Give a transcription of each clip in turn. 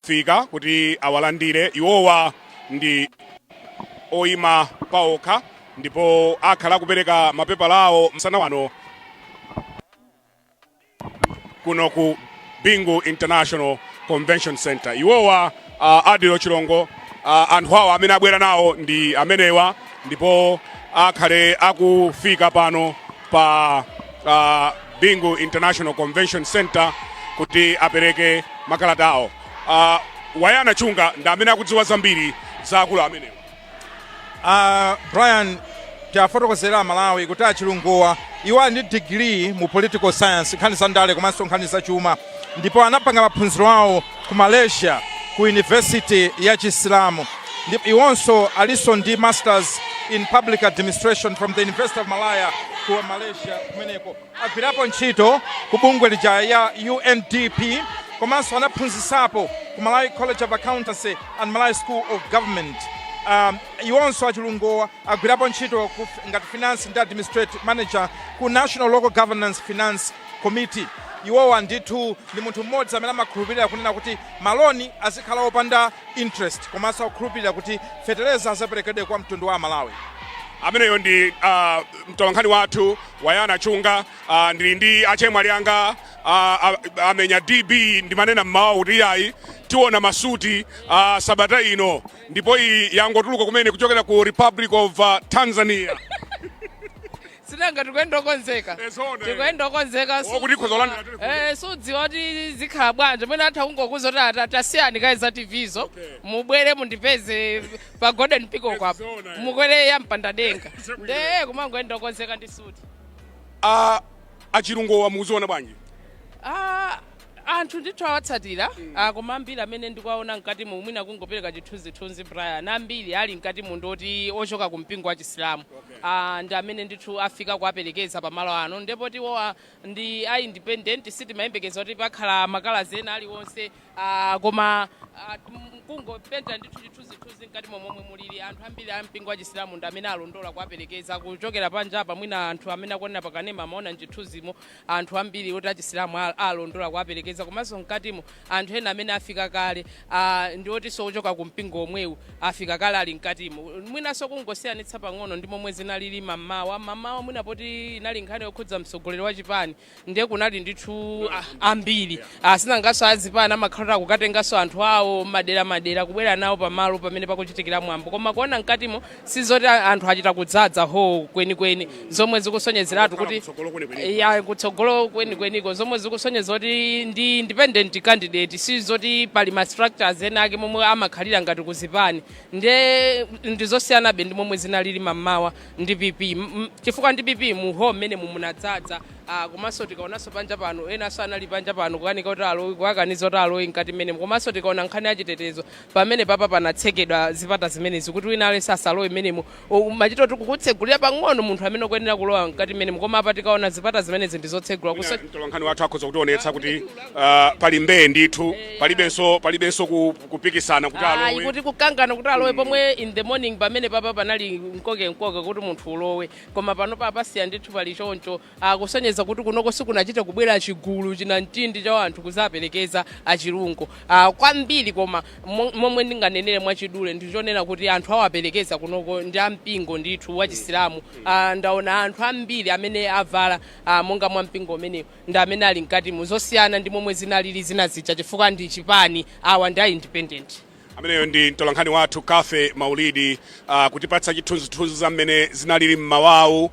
fika kuti awalandire iwowa ndi oyima paokha ndipo akhale akupereka mapepala awo msana wano kuno ku bingu international convention center iwowa uh, adil chilungo uh, anthu awo amene abwera nawo ndi amenewa ndipo akhale akufika pano pa uh, bingu international convention center kuti apereke makalata awo uh, wayana chunga ndi amene akudziwa zambiri za akulu amenewa uh, brian tiafotokozera amalawi kuti achilungowa iwo ali ndi digiri mu political science nkhani za ndale komanso nkhani za chuma ndipo anapanga maphunziro awo ku Malaysia ku University ya chisilamu ndipo iwonso alinso ndi Masters in Public Administration from the University of Malaya ku Malaysia kumeneko. Agwirapo ntchito ku bungwe lija la UNDP komanso anaphunzisapo ku Malawi College of Accountancy and Malawi School of Government. Um, iwonso achilungowa Agwirapo ntchito ngati Finance and Administrative Manager ku National Local Governance Finance Committee. Iwowa ndithu ndi munthu mmodzi amene amakhulupirira kunena kuti ma loan azikhala opanda interest komanso akukhulupirira kuti fetereza azaperekedwe kwa mtundu wa aMalawi. Ameneyo ndi mtolankhani wathu Wayana Chunga. A, ndili ndi achemwali anga a, a, amenya DB ndimanena mmawa kuti iyayi tiona masuti a, sabata ino ndipo iyi yangotuluka kumene kuchokera ku republic of uh, tanzania sinanga tikuyenda okonzeka Ezona, eh. tikuyenda okonzeka su- Okuti tikhoza kulandira tuli kuno. Eh, sudziwa kuti zikhala bwanji mwina atha kungokuuza kuti ata- tasiyani kaye za tvzo mubwere mundipeze pa golden peacock apo Ezona, eh. mukwere ya mpandadenga Zabwino. nde kumangoyenda okonzeka ndi suti a achilungowa mukuziona bwanji Ah, Anthu ndithu awatsatira ah koma ambiri amene ndikuwaona mkatimo mwina kungopereka chithunzithunzi Brian ambiri ali mkatimo ndi oti ochoka ku mpingo wa chisilamu ah ndi amene ndithu afika kuwaperekeza pa malo ano ndiye poti iwowa ndi a independent sitimayembekeza kuti pakhala makalazi ena aliwonse ah koma ah, m- kungopenta ndithu chithunzithunzi mkatimo momwe mulili anthu ambiri a mpingo wa chisilamu ndi amene alondola kuwaperekeza kuchokera panjapa mwina anthu amene akuonera pakanema amaona mchithunzimo Anthu ambiri oti achisilamu a alondola kuwaperekeza komanso mkatimo anthu ena amene afika kale a ndi otinso ochoka ku mpingo omwewu afika kale ali mkatimo. Mwinanso kungosiyanitsa pang'ono ndi momwe zinalili mammawa. Mammawa mwina poti inali nkhani yokhudza mtsogoleri wa chipani ndiye kunali ndithu a ambiri. Sinanganso a zipani amakhala oti akukatenganso anthu awo mmadera madera kubwera nawo pamalo pamene pakuchitikira mwambo koma kuona mkatimo sizoti a- anthu achita kudzadza holo kwenikweni zomwe zikusonyezeratu kuti Kutsogolo kwenikweni. ya kutsogolo kwenikweniko zomwe zikusonyeza kuti ndi independent candidate sizoti pali ma structures ena ake momwe amakhalira ngati kuzipani nde ndizosiyanabe ndi momwe zinalili mamawa ndi PP M- m- chifukwa ndi PP mu holo mmene mumunadzadza Ah, komanso tikaonanso panja pano enanso anali panja pano kukanika kuti alowe kuwakaniza kuti alowe mkati mmene komanso tikaona nkhani yachitetezo Pamenepapa panatsekedwa zipata zimenezi kuti wina aliyense asalowe mmenemo. O, Amachita kuti kukutsegulira pang'ono munthu amene ukuyenera kulowa mkati mmenemo, koma apa tikaona zipata zimenezi ndizotsegula Mwinanso mtolankhani wathu akhoza kutionetsa kuti ah, pali mbee ndithu palibenso palibenso ku- kupikisana kuti ayi alowe kuti kukangana kuti alowe pomwe in the morning pamenepapa panali mkokemkoke kuti munthu ulowe koma pano papasiya ndithu pali choncho kusonyeza kuti kunoko sikunachita kubwera chigulu chinamtindi cha anthu kuzaperekeza a Chilungo ah, kwambiri koma mo- momwe ndinganenere mwachidule ndichonena kuti anthu awaperekeza kunoko ndi ampingo ndithu wachisilamu ah, ndaona anthu ambiri amene avala ah, monga mwa mpingo umenewo ndi amene ali mkatimo zosiyana ndi momwe zinalili zina zija chifukwa ndi chipani awa ndi a independent ameneyo ndi mtolankhani wathu Cathy Maulidi uh, kutipatsa chithunzithunzi za mmene zinalili mmawawu uh,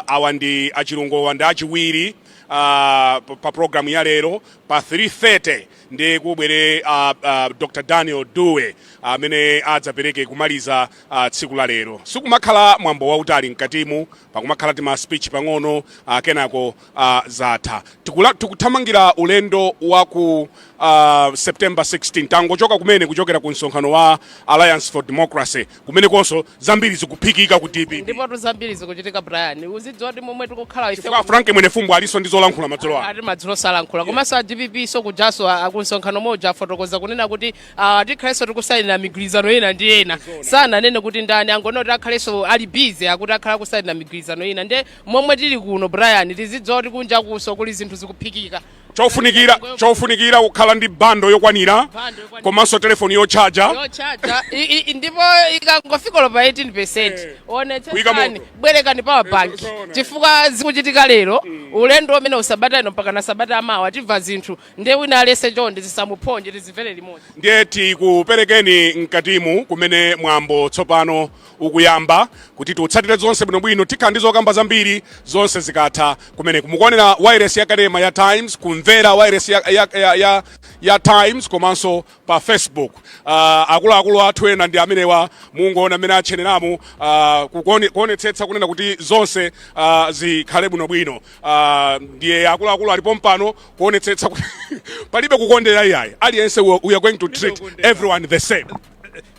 awa ndi a Chilungowa ndi achiwiri uh, pa pa programu ya lero pa 330 nde kubwere uh, uh, Dr Daniel Dube amene adzapereke kumaliza uh, tsiku la lero sikumakhala mwambo wautali mkatimu pakumakhala tima speech pang'ono uh, kenako uh, zatha Tikula, tikuthamangira ulendo wa ku uh, september 16 tangochoka kumene kuchokera ku msonkhano wa alliance for democracy kumenekonso zambiri zikuphikika ku dpp ndipotu zambiri zikuchitika Brian uzidziwa kuti momwe tikukhala ife chifukwa a Frank Mwenifumbo alinso ndi zolankhula madzulo ano ati madzulo anonso alankhula komanso a DPP-nso kujanso kumsonkhano moja afotokoza kunena kuti Ah, tikhalenso tikusainira migwirizano ina ndi ena sananene kuti ndani angoti akhalenso ali busy akuti akhala akusainira migwirizano ina nde momwe tili kuno Brian tizidziwa kuti kunjakunso kuli zinthu zikuphikika chofunikira chofunikira kukhala ndi bando yokwanira Bando yokwanira. komanso telefoni yotchaja yochaja I- i- i- ndipo ikangofika low pa 18 percent Kuika onetsetsani moto. bwerekani power bank Zoona. chifukwa zikuchitika lero ulendo umenewu sabata ino mpaka na sabata yamawa timva zinthu Ndiye wina aliyense chonde zisamuphonye tizimvere limodzi. ndiye tikuperekeni mkatimu kumene mwambo tsopano ukuyamba kuti tiutsatire zonse bwinobwino tikhala ndi zokamba zambiri zonse zikatha kumeneku mukuonera wailesi ya kanema ya Times kumvera wailesi ya, ya, ya, ya, ya Times komanso pa Facebook uh, akuluakulu athu ena ndi amenewa mungoona mmene atcheneramu uh, kukuone- kuonetsetsa kunena kuti zonse uh, zikhale bwinobwino uh, ndiye akuluakulu ali pompano kuonetsetsa kuti palibe kukondera iyayi aliyense we we are going to treat everyone the same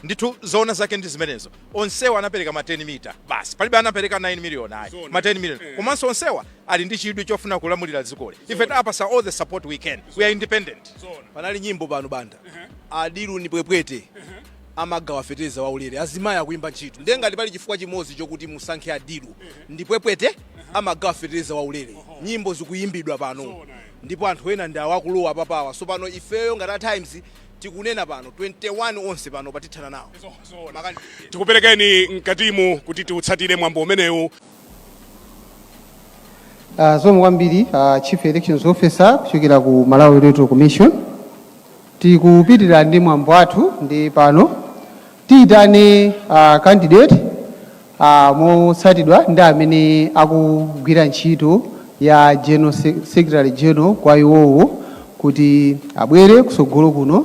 ndithu zoona zake ndi zimenezo onsewa anapereka ma 10 mita basi palibe anapereka 9 million ayi ma 10 million komanso onsewa ali ndi chidwi chofuna kulamulira dzikoli ife tawapatsa all the support we can we are independent panali nyimbo pano banda adilu ndi pwepwete amagawa fetereza waulere azimayi akuimba ntchito ndiye ngati pali chifukwa chimodzi chokuti musankhe adilu ndi pwepwete amagawa fetereza waulere nyimbo zikuyimbidwa pano ndipo anthu ena ndi awakulowa papawa so pano ifeyo ngati a times tikunena pano 21 onse pano patithana nawo tikuperekeni mkatimu kuti tiutsatire mwambo umenewu Uh, zikomo kwambiri uh, chief elections officer kuchokera ku malawi electoral commission tikupitirira ndi mwambo wathu nde pano tiyitane uh, candidate uh, motsatiridwa ndi amene akugwira ntchito ya general sec- secretary general kwa iwowo kuti abwere kusogolo kuno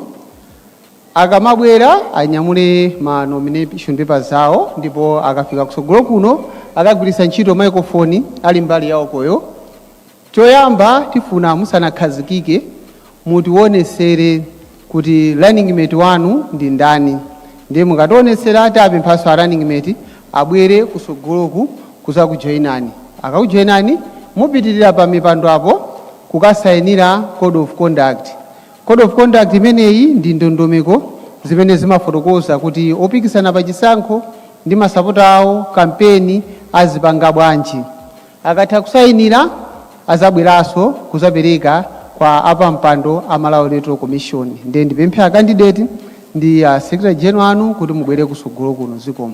Akamabwera anyamule ma nomination papers awo ndipo akafika kutsogolo kuno akagwiritsa ntchito microphone ali mbali yaukoyo. Choyamba tifuna musanakhazikike mutionesere kuti running mate wanu ndi ndani ndiye mukationesera tiapemphanso a running mate abwere kutsogoloku kuzakujoinani. Akakujoinani mupitilira pa mipando apo kukasainira code of conduct Code of conduct imeneyi ndi ndondomeko zimene zimafotokoza kuti opikisana pa chisankho ndi masapota awo kampeni azipanga bwanji. Akatha kusayinira azabweranso kuzapereka kwa apampando a Malawi Electoral Commission. Ndiye ndipemphe a candidate ndi a Secretary General anu kuti mubwere kusogolo kuno. Zikomo.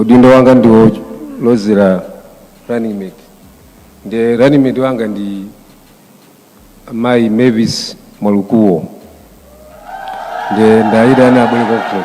udindo wanga ndi wolozera running mate nde running mate wanga ndi mayi mervis mwalukuo nde ndiwaitana abwere kwakuko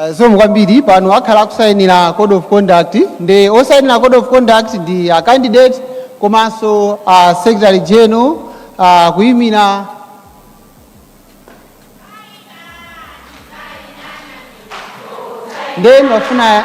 Eh, zikomo kwambiri pano akhala akusayinira code of conduct nde osayinira code of conduct ndi a candidate komanso a secretary general ah, kuyimira ndeni wafuna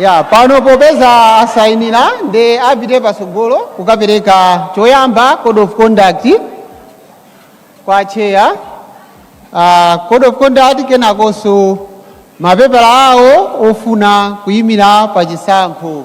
ya pano popeza asayinira ndiye apite patsogolo kukapereka choyamba code of conduct kwa cheya uh, code of conduct kenakonso mapepala awo ofuna kuyimira pa chisankho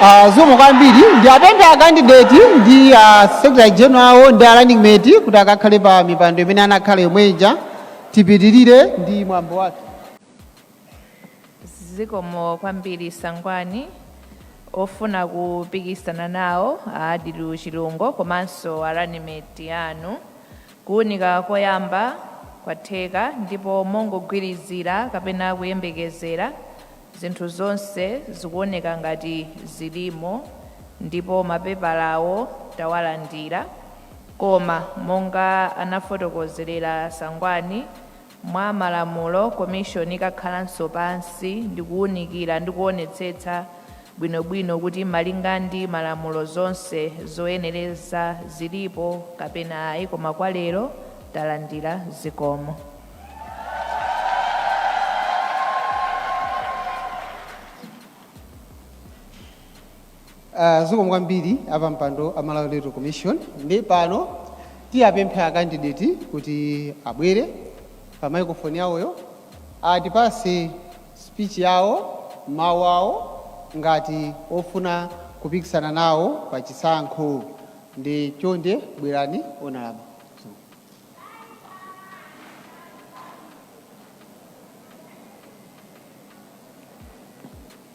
Ah, zikomo kwambiri ndiwapemphe a candidate ndi a secretary general ndi a running mate kuti akakhale pa mipando imene anakhala yomwe ija tipitirire ndi mwambo wake zikomo kwambiri sangwani ofuna kupikisana nawo a Adil Chilungo komanso a running mate anu Kuunika koyamba kwatheka, ndipo mongogwirizira kapena kuyembekezera, zinthu zonse zikuoneka ngati zilimo, ndipo mapepalawo tawalandira. Koma monga anafotokozerera Sangwani, Mwa malamulo, Commission ikakhalanso pansi ndikuwunikira ndi kuwonetsetsa bwinobwino kuti malinga ndi malamulo zonse zoyenereza zilipo kapena ayi koma kwa lero talandira zikomo. Uh, zikomo kwambiri apampando a Malawi Electoral Commission ndiye pano tiwapemphe a candidate kuti abwere pa microphone yawoyo atipase speech yawo mawu awo ngati ofuna kupikisana nawo pa chisankho ndiye chonde bwerani honourable.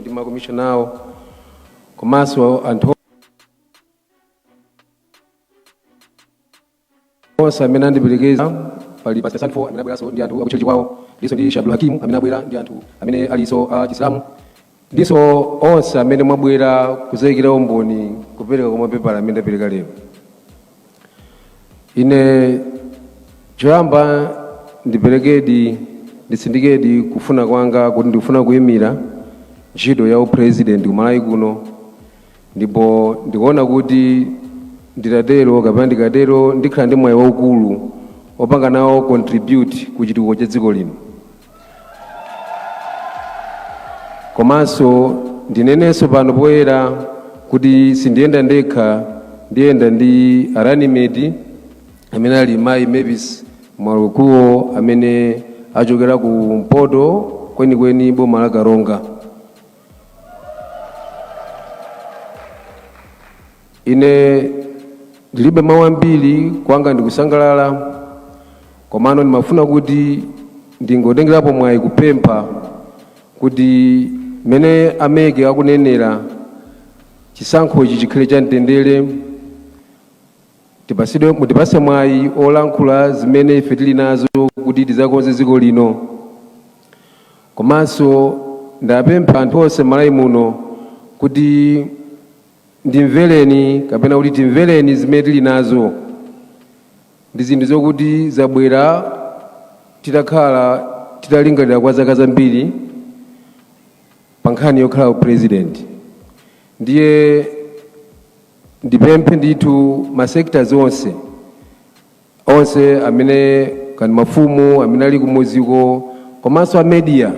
ndi makomishona awo komanso anthu onse amene andiperekeza pali pastor sanfo amene abweranso ndi anthu akutchetchi kwawo ndinso ndi Sheikh Abdul Hakim amene abwera ndi anthu amene alinso a chisilamu ndinso onse amene mwabwera kuzaikira umboni kupereka kwa mapepala amene ndapereka lero ine choyamba ndiperekedi nditsindikedi kufuna kwanga kuti ndikufuna kuyimira ntchito ya upresident ku Malawi kuno ndipo ndikuona kuti nditatero kapena ndikatero ndikhala ndi mwayi waukulu opanga nawo contribute ku chitukuko cha dziko lino komanso ndinenenso pano poyera kuti sindiyenda ndekha ndiyenda ndi a running mate amene ali mayi mavis mwalukuwo amene achokera ku mpoto kwenikweni boma la karonga Ine ndilibe mawu ambiri, kwanga ndikusangalala komano ndimafuna kuti ndingotengerapo mwayi kupempha kuti mmene a MEC akunenera chisankhochi chikhale cha mtendere, tipasidwe mutipase mwayi olankhula zimene ife tili nazo kuti tizakonze dziko lino komanso ndapempha anthu onse m'Malawi muno kuti Ndimvereni kapena kuti timvereni zimene tili nazo ndi zinthu zokuti zabwera titakhala titalingalira kwa zaka zambiri pa nkhani yokhala upresident ndiye ndipemphe ndithu ma sectors onse onse amene kani mafumu amene ali kumuziko komanso a media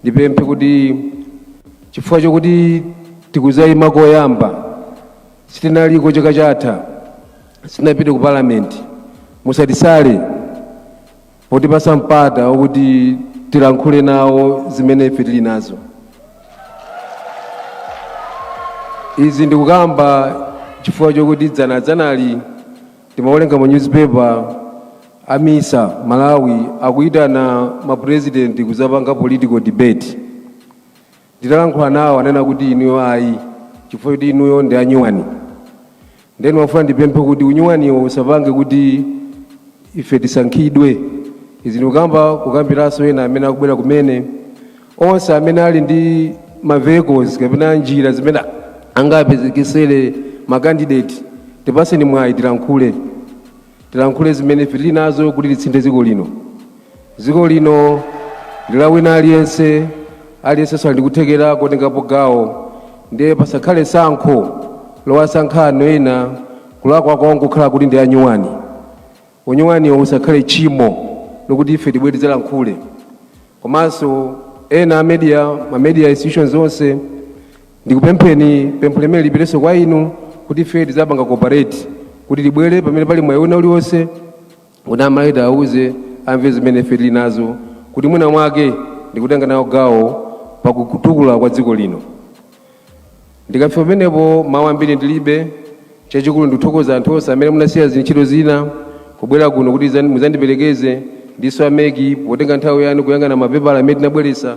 ndipemphe kuti chifukwa chokuti tikuzayima koyamba sitinaliko chaka chatha sitinapite ku parliament musatisale potipasa mpata wokuti tilankhule nawo zimene ife tili nazo izi ndikukamba chifukwa chokuti dzana dzanali Ndimawerenga mu newspaper a MISA Malawi akuitana ma president kuzapanga political debate. Nditalankhula nawo ananena kuti inuyo ayi chifukwa choti inuyo ndi anyuwani. Ndiye ndimafuna ndipemphe kuti unyuwaniwo usapange kuti ife tisankhidwe. Izi ndikukamba kukambiranso ena amene akubwera kumene onse amene ali ndi ma vehicles kapena njira zimene angapezekesere ma candidate tipaseni mwayi tilankhule tilankhule zimene ife tili nazo kuti tisinthe dziko lino dziko lino ndi la wina aliyense aliyense ali ndikuthekera kutengapo gawo ndiye pasakhale sankho lowasankha anthu ena kulakwa kwawo nkukhala kuti ndi anyuwani Unyuwaniwo usakhale tchimo lokuti ife tibwere tidzalankhule komanso ena a media, ma media institutions onse ndikupempheni pempho lomwe lipiteso kwa inu kuti ife tidzapanga cooperate kuti tibwere pamene pali mwayi wina uliwonse kuti a Malawi tiawuze amve zimene ife tili nazo kuti mwina mwake ndikutenga nawo gawo pakutukula kwa dziko lino. Ndikafika pamenepo mawu ambiri ndilibe, chachikulu ndithokoza anthu onse amene munasiya zintchito zina kubwera kuno kuti zan- muzandiperekeze ndinso a Meki potenga nthawi yanu kuyang'ana mapepala amene tinabweretsa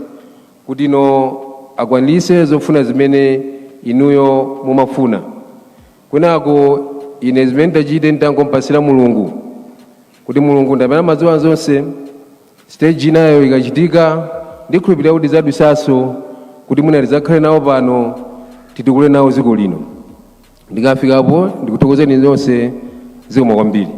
kuti ino akwanitse zofuna zimene inuyo mumafuna. Kwinako ine zimene nditachite ndingompatsira Mulungu. kuti mulungu ndi amene amadziwa zonse stage inayo ikachitika ndikhulupirira kuti tidzadutsanso kuti mwina tidzakhale nawo pano titukule nawo dziko lino ndikafikapo ndikuthokozeni zonse zikomo kwambiri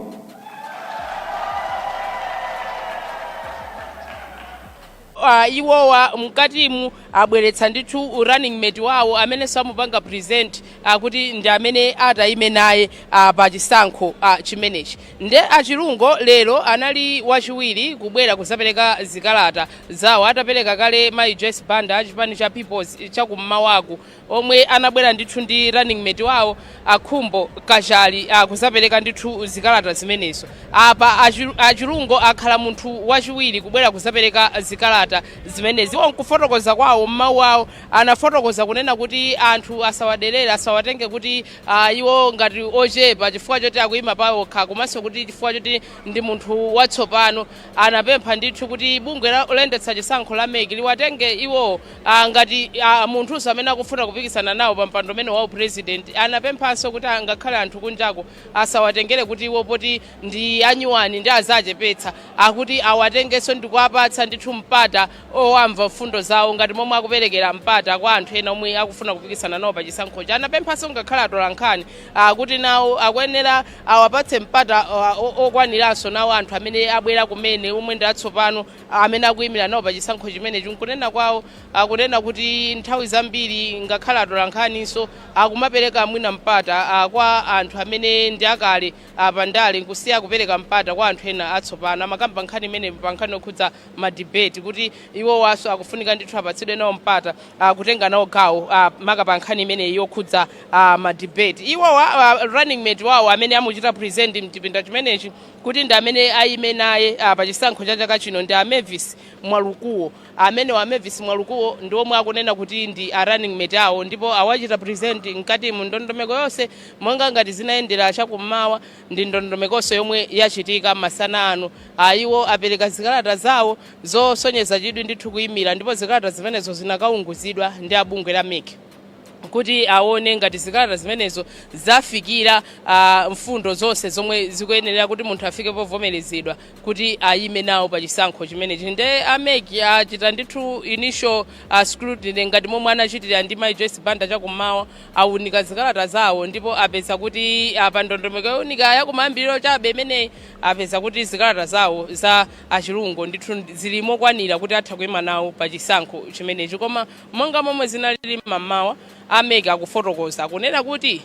Ah, iwowa mkatimu abweretsa ndithu running mate wawo amene amupanga present kuti ndi amene atayime naye ah, pa chisankho ah, chimenechi nde a Chilungo lero anali wachiwiri kubwera kuzapereka zikalata zawo atapereka kale mayi Joyce Banda achipani cha People's chakummawaku omwe anabwera ndithu ndi running mate wawo a Khumbo Kachali ah, kuzapereka ndithu zikalata zimenezo apa achi- a Chilungo akhala munthu wachiwiri kubwera kuzapereka zikalata zimenezi iwo nkufotokoza kwawo m'mawu awo anafotokoza kunena kuti anthu asawaderere asawatenge kuti ah, iwo ngati ochepa chifukwa choti akuyima pawokha komanso kuti chifukwa choti ndi munthu watsopano anapempha ndithu kuti bungwe la- loyendetsa chisankho la MEC liwatenge iwo a ngati a munthunso amene akufuna kupikisana nawo pa mpando umene wa upresident anapemphanso kuti angakhale anthu kunjako asawatengere kuti iwo poti ndi anyuwani ndi azachepetsa akuti awatengenso ndikuwapatsa ndithu mpata owamva mfundo zawo ngati momwe akuperekera mpata kwa anthu ena omwe akufuna kupikisana nawo pa chisankhochi anapemphanso ngakhale atolankhani kuti nawo akuyenera awapatse mpata uh, o- okwaniranso nawo anthu amene abwera kumene omwe ndi atsopano amene akuyimira nawo pa chisankho chimenechi nkunena kwawo akunena kuti nthawi zambiri ngakhale atolankhaninso akumapereka mwina mpata ah, kwa anthu amene ndi akale ah, pa ndale nkusiya kupereka mpata kwa anthu ena atsopano amakamba nkhani imene pa nkhani yokhudza madibeti kuti iwowanso akufunika ndithu apatsidwe nawo mpata ah, kutenga nawo gawo ah, maka pa nkhani imeneyi yokhudza ah, madibeti iwowa ah, running mate wawo amene amuchita present mchipinda chimenechi kuti ndi amene ayime naye a pa chisankho cha chaka chino ndi a Mervis Mwalukuwo. Amenewa a Mervis Mwalukuwo ndi omwe akunena kuti ndi a running mate awo ndipo awachita present mkatimu. Ndondomeko yonse monga ngati zinayendera chakummawa ndi ndondomekonso yomwe yachitika masana ano. A iwo apereka zikalata zawo zosonyeza chidwi ndithu kuyimira ndipo zikalata zimenezo zinakaunguzidwa ndi a bungwe la MEC. kuti aone ngati zikalata zimenezo zafikira uh, mfundo zonse zomwe zikuyenera kuti munthu afike povomerezedwa kuti ayime nawo pa chisankho chimenechi nde a MEC achita ndithu initial uh, scrutiny ngati momwe anachitira ndi mai joyce banda chakummawa aunika zikalata zawo ndipo apeza kuti uh, pa ndondomeko yowunika yakumayambiriro chabe imeneyi apeza kuti zikalata zawo za achilungo ndithu zili mokwanira kuti atha kuyima nawo pa chisankho chimenechi koma Monga momwe zinalili m'mamawa, a mec akufotokoza kunena kuti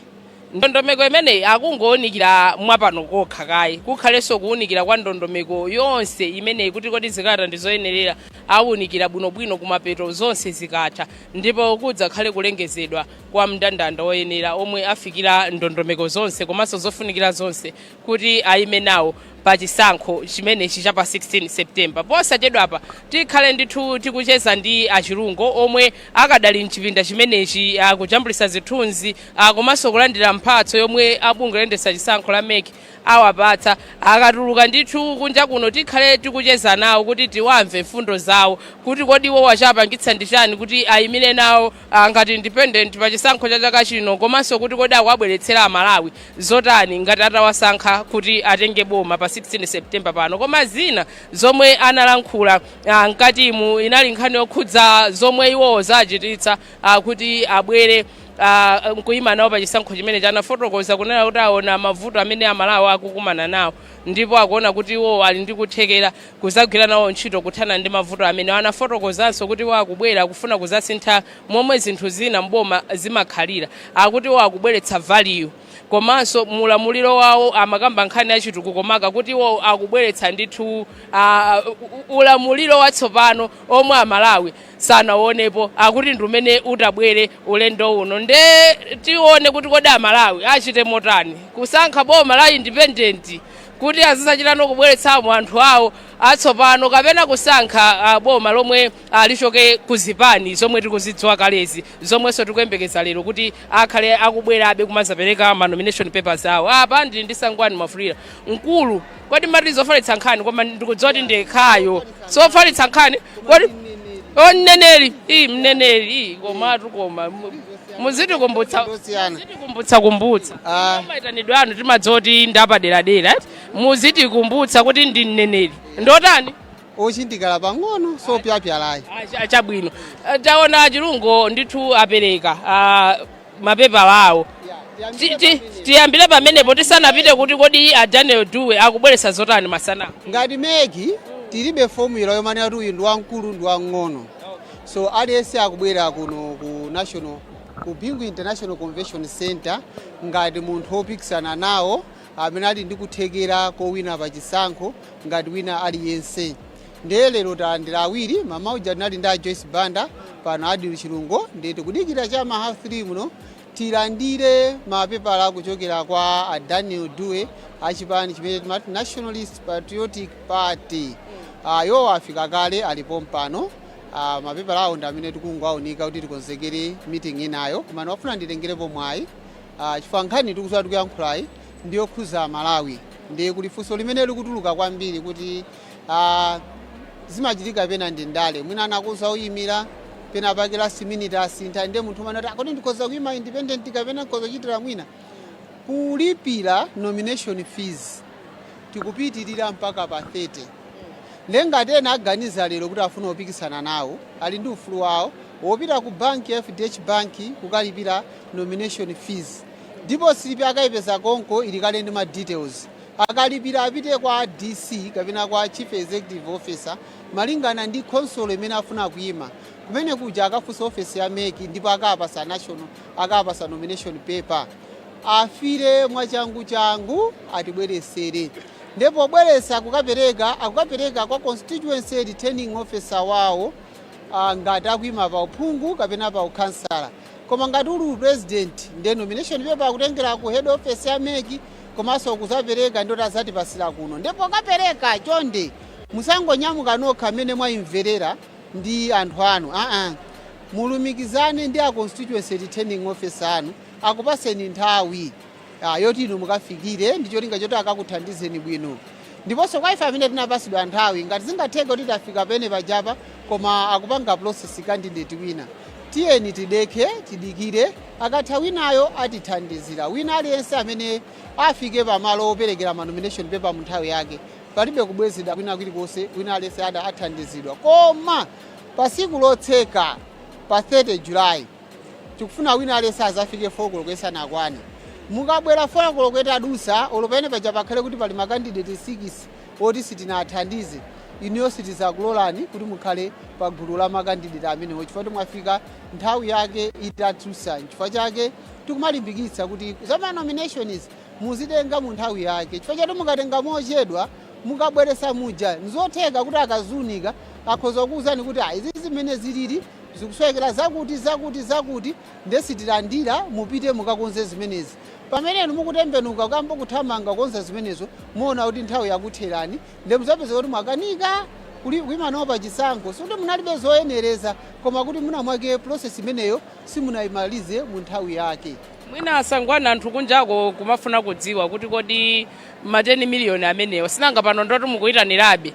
ndondomeko imeneyi akungowunikira mwa pano kokha kaye kukhalenso kuwunikira kwa ndondomeko yonse imeneyi kuti kodi zikalata ndi zoyenerera awunikira bwinobwino kumapeto zonse zikatha ndipo kudzakhale kulengezedwa kwa mndandanda woyenera omwe afikira ndondomeko zonse komanso zofunikira zonse kuti ayime nawo pa chisankho chimenechi cha pa 16 September. Posachedwapa tikhale ndithu tikucheza ndi a Chilungo omwe akadali mchipinda chimenechi kujambulisa zithunzi ah, komanso kulandira mphatso yomwe a bungwe loyendetsa chisankho la MEC awapatsa. Akatuluka ndithu kunja kuno tikhale tikucheza nawo kuti tiwamve mfundo zawo kuti kodi iwo wachapangitsa ndi chani kuti ayimire nawo ah, ngati independent pa chisankho cha chaka chino komanso kuti kodi akuwabweretsera amalawi zotani ngati atawasankha kuti atenge boma pa 16 september pano koma zina zomwe analankhula ah, mkatimu inali nkhani yokhudza zomwe iwowo zachititsa ah, kuti abwere ah, nkuyima nawo pa chisankho chimenechi anafotokoza kunena kuti aona mavuto amene amalawi akukumana nawo ndipo akuona kuti iwowo ali ndi kuthekera kuzagwira nawo ntchito kuthana ndi mavuto amenewa. Anafotokozanso kuti iwo akubwera kufuna kuzasintha momwe zinthu zina m'boma zimakhalira. Akuti iwo akubweretsa value komanso mu ulamuliro wawo amakamba nkhani za chitukuko maka kuti iwo akubweretsa ndithu ah, u- ulamuliro watsopano omwe amalawi sanauonepo akuti ndi umene utabwere ulendo uno nde tione kuti kodi amalawi achite motani kusankha boma la independent kuti azizachitano kubweretsamo anthu awo atsopano kapena kusankha ah, boma lomwe ah, lichoke ku zipani zomwe tikuzidziwa kalezi zomwenso tikuyembekeza lero kuti akhale akubwerabe kumazapereka ma nomination papers awo apa ndili ndi sangwani mwafulirwa mkulu kodi mati zofalitsa nkhani koma ndikudziwa kuti ndyekhayo sofalitsa nkhani kodi o mneneri ii mneneri ii komatu koma mu- muzitikumbutsa Ndosiyana. muzitikumbutsa kumbutsa Ah. maitanidwe anu timadziwa kuti ndapaderadera eti muzitikumbutsa kuti ndi mneneri ndotani ochindikala pang'ono sopyapyala ayi Acha- achabwino Eh, taona achilungo ndithu apereka ah, mapepala awo Ti- ti- tiyambire pamenepo tisanapite kuti kodi a daniel dube akubweretsa zotani masana ngati meki tilibe formula yomanena kuti uyu ndi wamkulu ndi wamng'ono so aliyense akubwera kuno ku national ku bingu international convention center ngati munthu wopikisana nawo amene ali ndi kuthekera kowina pa chisankho ngati wina aliyense Ndiye lero talandira awiri, mmawa uja tinali ndi a Joyce Banda, pano Adil Chilungo, ndiye tikudikira cha ma half 3 muno tilandire mapepala kuchokera kwa a Daniel Dube a chipani chimene timati Nationalist Patriotic Party. Ah, iwowo afika kale ali pompano. Ah, mapepala awo ndi amene tikungowaunika kuti tikonzekere meeting inayo, koma ndimafuna nditengerepo mwayi Ah, chifukwa nkhani tikuziwa tikuyankhulayi ndi yokhuza Malawi ndiye kuli funso limene likutuluka kwambiri kuti Ah, zimachitika pena ndi ndale mwina anakuza uyimira pena pake last minute asintha ndiye munthu umanati "Ah, kodi ndikoza kuyima independent kapena ndikoza kuchitira mwina kulipira nomination fees tikupitirira mpaka pa 30 nde ngati ena aganiza lero kuti afuna kupikisana nawo ali ndi ufulu wawo wopita ku banki ya fdh banki kukalipira nomination fees ndipo silipi akayipeza konko ili kale ndi ma details Akalipira apite kwa DC kapena kwa Chief Executive Officer malingana ndi khonsolo imene afuna kuima. Kumene kuja akafunse ofesi ya mec ndipo akawapasa national akawapasa nomination paper. Afile mwachanguchangu atibweresere. Nde pobweresa kukapereka akukapereka kwa constituency returning officer wawo ngati akuima pa uphungu kapena pa ukhansala. Koma ngati uli u president nde nomination paper kutengera ku head office ya mec komanso kuzapereka ndi oti azatipasira kuno nde pokapereka chonde musangonyamuka nokha mmene mwaimverera ndi anthu anu aa mulumikizane ndi a constituency returning officer anu akupaseni nthawi ah, yoti inu mukafikire ndi cholinga choti akakuthandizeni bwino ndiponso kwa ife amene tinapasidwa nthawi ngati zingatheke kuti tafika pamene pajapa koma akupanga process candidate wina tiyeni tidekhe tidikire akatha winayo atithandizira wina aliyense amene afike pamalo operekera ma nomination paper mu nthawi yake palibe kubwezedwa kwina kulikonse wina aliyense ada athandizidwa koma pa siku lotseka pa 30 julayi tikufuna wina aliyense azafike 4 koloko isanakwane mukabwera 4 koloko itadusa olo pamene paja pakhale kuti pali makandideti 6 oti sitinathandize inuyo sitizakulolani kuti mukhale pa gulu la makandideti amenewo chifukwa kuti mwafika nthawi yake itadusa chifukwa chake tikumalimbikitsa kuti za ma nominations muzitenga mu nthawi yake chifukwa choti mukatenga mochedwa mukabweresa muja nizotheka kuti akaziunika akhoza kukuwuzani kuti "Ah, izi zimene zilili Zikusowekera zakuti, zakuti, zakuti, ndiye sitilandira, mupite mukakonze zimenezi. Pamene inu mukutembenuka kukayamba kuthamanga kukonza zimenezo, muwona kuti nthawi yakutherani, ndiye mudzapezeka kuti mwakanika kuyima nawo pa chisankho. Sikuti munalibe zoyenereza, koma kuti mwina mwake process imeneyo simunayimalize mu nthawi yake. Mwina a Sangwani anthu kunjako kumafuna kudziwa kuti kodi ma 10 million amenewo, sinanga pano ndoti mukuyitanirabe.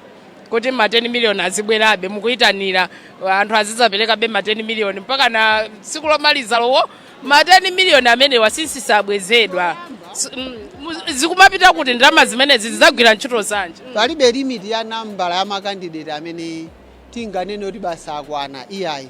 kuti ma 10 miliyoni azibwerabe mukuyitanira anthu azidzaperekabe ma 10 miliyoni mpaka na tsiku lomaliza lowo ma 10 miliyoni amenewa si- sabwezedwa S- mm, mu- zikumapita kuti ndalama zimenezi zidzagwira ntchito zanji palibe limiti ya nambala ya makandideti amene tinganene kuti basi akwana iyayi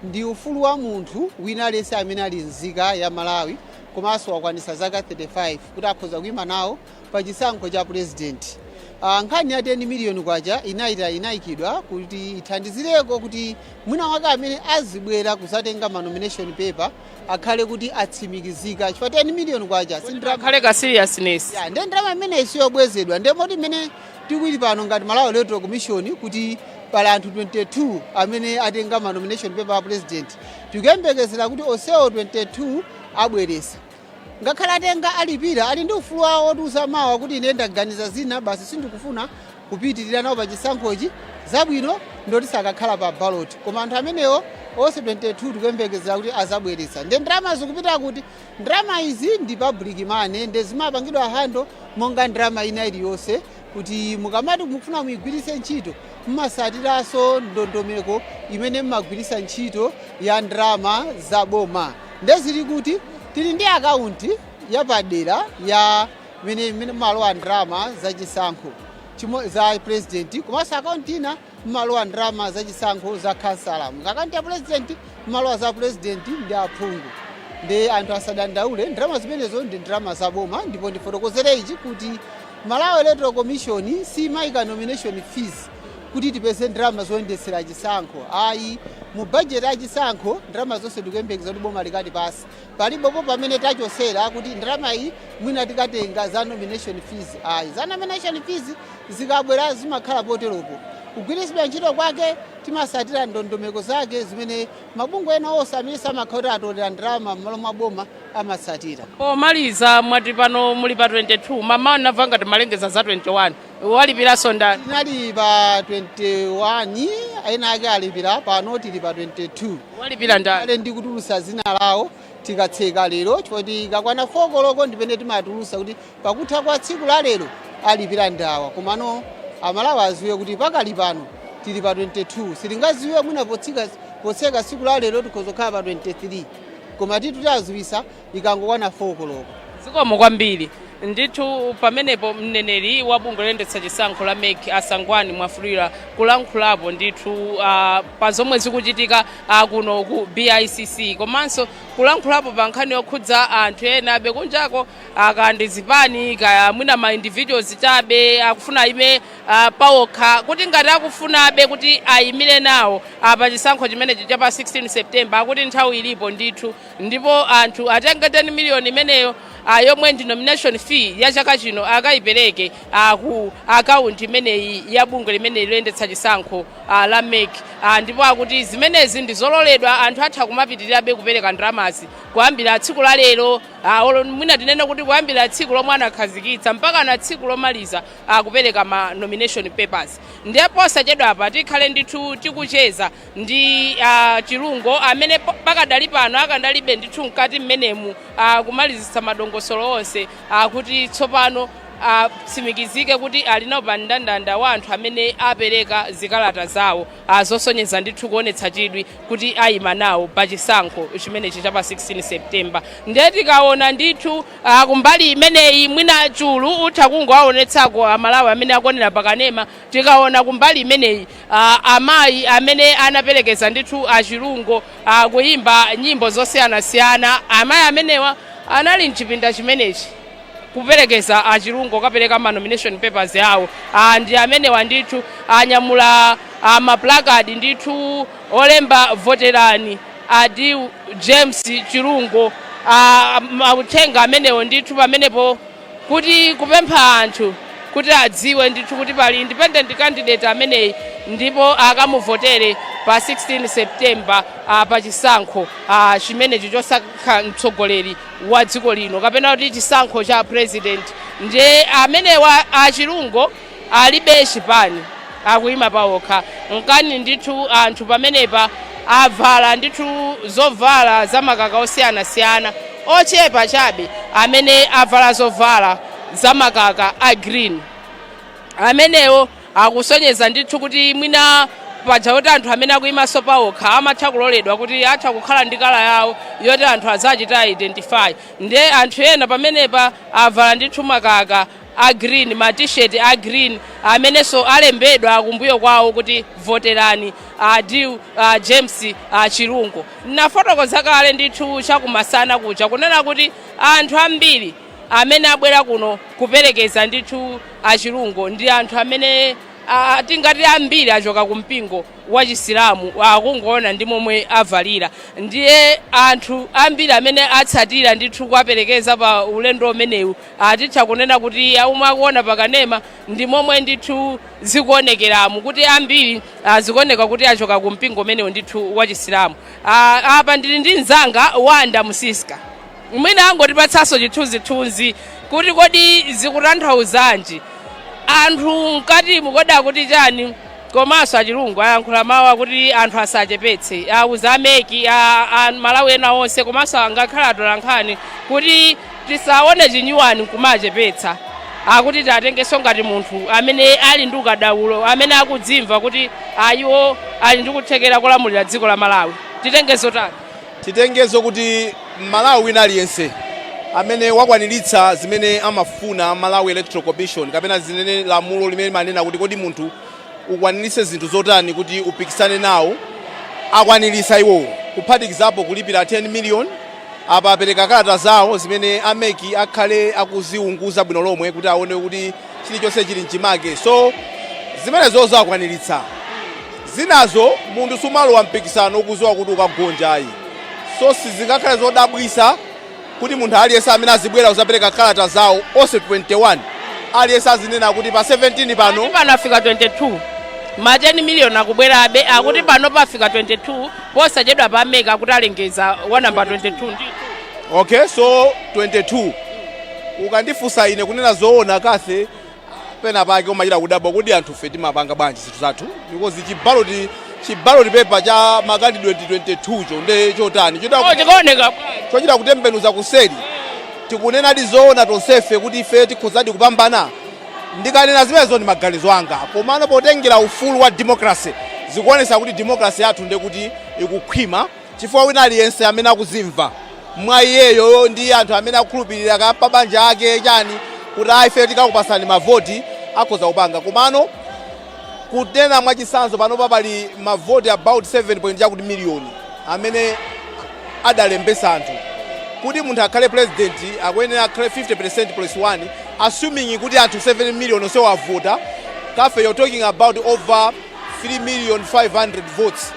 ndi ufulu wa munthu wina aliyense amene ali nzika ya Malawi komanso wakwanitsa zaka 35 kuti akhoza kuyima nawo pa chisankho cha pulezidenti. Ah, nkhani ya 10 miliyoni kwacha inai- inaikidwa kuti ithandizireko kuti mwina mwake amene azibwera kuzatenga ma nomination paper akhale kuti atsimikizika chifukwa 10 miliyoni kwacha si ndalama akhale ka seriousness, eya, ndiye ndalama imeneyi siyobwezedwa ndiye moti imene tikuti pano ngati Malawi Electoral Commission kuti pali anthu 22 amene atenga ma nomination paper a president tikuyembekezera kuti onsewo 22 abweretsa ngakhale atenga alipira ali ndi ufulu wawo otiuza mawa kuti ine ndaganiza zina basi sindikufuna kupitirira nawo pa chisankhochi zabwino ndoti sakakhala pa baloti koma anthu amenewo onse 22 tikuyembekezera kuti azabweretsa nde ndalama zikupita kuti ndalama izi ndi public money nde zimapangidwa handle monga ndalama ina iliyonse kuti mukamati mukufuna muigwiritse ntchito mumatsatiranso ndondomeko imene mumagwiritsa ntchito ya ndalama za boma nde zili kuti tili ndi akaunti yapadera ya imene imene mumalowa ndalama za chisankho za president komanso akaunti ina Mumalowa ndalama za chisankho za khansala, akaunti ya pulezidenti, mumalowa za pulezidenti ndi aphungu. Nde anthu asadandaule, ndalama zimenezo ndi ndalama za boma, ndipo ndifotokozere ichi kuti Malawi Electoral Commission siimaika nomination fees kuti tipeze ndalama zoyendetsera chisankho ayi. Mu budget ya chisankho ndalama zonse tikuyembekeza kuti boma likatipatsa, palibepo pamene tachotsera kuti ndalama iyi mwina tikatenga za nomination fees ayi. Za nomination fees Zikabwera zimakhala poteropo. Kugwiritsidwa ntchito kwake timatsatira ndondomeko zake zimene mabungwe ena onse amene amakhala kuti atolera ndalama m'malo mwa boma amatsatira. Pomaliza mwati pano muli pa 22, mamawa ndinamva ngati mwalengeza za 21. Walipiranso ndani? Tinali pa 21, ena ake alipira, pano tili pa 22. Walipira ndani? Aa, nditulutsa dzina lawo tikatseka lero chifukwa ikakwana 4 koloko ndi pamene timatulutsa kuti Pakutha kwa tsiku la lero alipira ndi awa komano amalawi aziwe kuti pakali pano tili pa 22 sitingaziwe mwina potseka tsiku la lero tikhoza kukhala pa 23 koma tithu tiwaziwisa ikangokwana 4 koloko. Zikomo kwambiri. Ndithu pamenepo mneneri wa bungwe loyendetsa chisankho la MEC a Sangwani Mwafulirwa kulankhulapo ndithu ah, pa zomwe zikuchitika ah, kuno ku BICC komanso kulankhulapo pa nkhani yokhudza anthu ena abe kunjako akaya ndi zipani kaya mwina ma individuals chabe akufuna ayime ah, paokha kuti ngati akufunabe kuti ayimire nawo ah, pa chisankho chimenechi cha pa 16 September akuti nthawi ilipo ndithu ndipo anthu atenge 10 miliyoni imeneyo ah, yomwe ndi nomination fee ya chaka chino akayipereke ah, ku akaunti imeneyi ya bungwe limeneli loyendetsa chisankho ah, la MEC ah, ndipo akuti zimenezi ndi zololedwa anthu atha kumapitirirabe kupereka ndalamazi kuyambira tsiku la lero Ah, olo mwina tinene kuti kuyambira tsiku lomwe anakhazikitsa mpaka na tsiku lomaliza kupereka ma nomination papers ndiye posachedwapa tikhale ndithu tikucheza ndi ah, Chilungo amene pakadali pano akadalibe ndithu mkati mmenemu ah, kumalizitsa madongosolo onse ah, kuti tsopano atsimikizike kuti ali nawo pa mndandanda wa anthu amene apereka zikalata zawo ah, zosonyeza ndithu kuonetsa chidwi kuti ayima nawo pa chisankho chimenechi cha pa 16 September ndiye tikaona ndithu uh, kumbali imeneyi mwina Chulu utha kungowaonetsako amalawi amene akuonera pakanema tikaona kumbali imeneyi uh, amayi amene anaperekeza ndithu a Chilungo uh, kuyimba nyimbo zosiyanasiyana amayi amenewa anali mchipinda chimenechi kuperekeza a Chilungo kapereka ma nomination papers awo ah, ndi amenewa ndithu anyamula ah, ma placard ndithu olemba voterani Adil James Chilungo ah, mauthenga amenewo ndithu pamenepo kuti kupempha anthu kuti adziwe ndithu kuti pali independent candidate ameneyi ndipo akamuvotere pa 16 September ah, pa chisankho ah, chimenechi chosankha mtsogoleri wa dziko lino kapena kuti chisankho cha president ndiye amenewa a Chilungo alibe chipani akuyima pawokha nkana ndithu anthu pamenepa avala ndithu zovala za makaka osiyanasiyana ochepa chabe amene avala zovala za makaka a green amenewo akusonyeza ndithu kuti mwina paja kuti anthu amene akuyimanso pawokha amatha kuloledwa kuti atha kukhala ndi kala yawo yoti anthu azachita identify nde anthu ena pamenepa avala ndithu makaka a green ma t-shirt a green amenenso alembedwa kumbuyo kwawo kuti voterani Adil uh, James uh, chilungo nafotokoza kale ndithu chakumasana kuja kunena kuti anthu ambiri amene abwera kuno kuperekeza ndithu a Chilungo ndi anthu amene ah, tingati ambiri achoka ku mpingo wa chisilamu kungoona ndi momwe avalira ndiye anthu ambiri amene atsatira ndithu kuwaperekeza pa ulendo umenewu atitha kunena kuti omwe akuona pakanema ndi momwe ndithu zikuonekeramu kuti ambiri ah, zikuoneka kuti achoka ku mpingo umenewu ndithu wa chisilamu Ah, apa ndili ndi mzanga wanda musiska Mwina angotipatsanso chithunzithunzi kuti kodi zikutanthauzanji. Anthu mkatimu kodi akuti chani? Komanso a Chilungo ayankhula mawu akuti anthu asachepetse, auza a MEC a, a Malawi ena onse komanso angakhale atolankhani kuti tisaone chinyawani nkumachepetsa. Akuti tiwatengenso ngati munthu amene ali ndi ukadaulo, amene akudzimva kuti ayiwo ali ndi kuthekera kolamulira dziko la Malawi. Titengezo tani? Titengezo kuti m'Malawi wina aliyense amene wakwanilitsa zimene amafuna Malawi Electoral Commission kapena zimene lamulo limene limanena kuti kodi munthu ukwanilitse zinthu zotani kuti upikisane nawo akwanilitsa iwowo kuphatikizapo kulipila 10 million apa apeleka kalata zawo zimene a mec akhale akuziunguza bwino lomwe kuti aone kuti chilichonse chili mchimake so zimenezozo akwaniritsa zinazo munthu sumalowa mpikisano ukuziwa kuti ukagonja ayi so sizingakhale zodabwisa kuti munthu aliyense amene azibwera kuzapereka kalata zawo onse 21 aliyense azinena kuti pa 17 pano Kuti pano afika 22 ma 10 miliyoni akubwerabe akuti pano pafika 22 posachedwa pa a MEC akuti alengeza wa namba 22 ndithu okay so 22 Ukandifunsa ine, kunena zoona Kathy, pena pake umachita kudabwa kuti anthufe timapanga bwanji zinthu zathu because chi ballot chi ballot paper cha ma candidate 22 cho nde chotani chotani Oh, chikaoneka chochita kutembenuza kuseri tikunenadi zoona tonsefe kuti ife tikhozadi kupambana ndikanena zimenezo ndi maganizo anga komano potengera ufulu wa democracy zikuonesa kuti democracy yathu ndekuti ikukhwima Chifukwa wina aliyense amene akuzimva mwa iyeyo ndi anthu amene akukhulupirira kaya pabanja ake chani kuti a ifeyo tikakupasani mavoti akhoza kupanga komano kunena mwachitsanzo panopa pali mavoti about 7 point chakuti million amene adalembesa anthu kuti munthu akhale president akuyenera akhale 50% plus 1 assuming kuti anthu 7 million onse wavota kafe you're talking about over 3 million 500 votes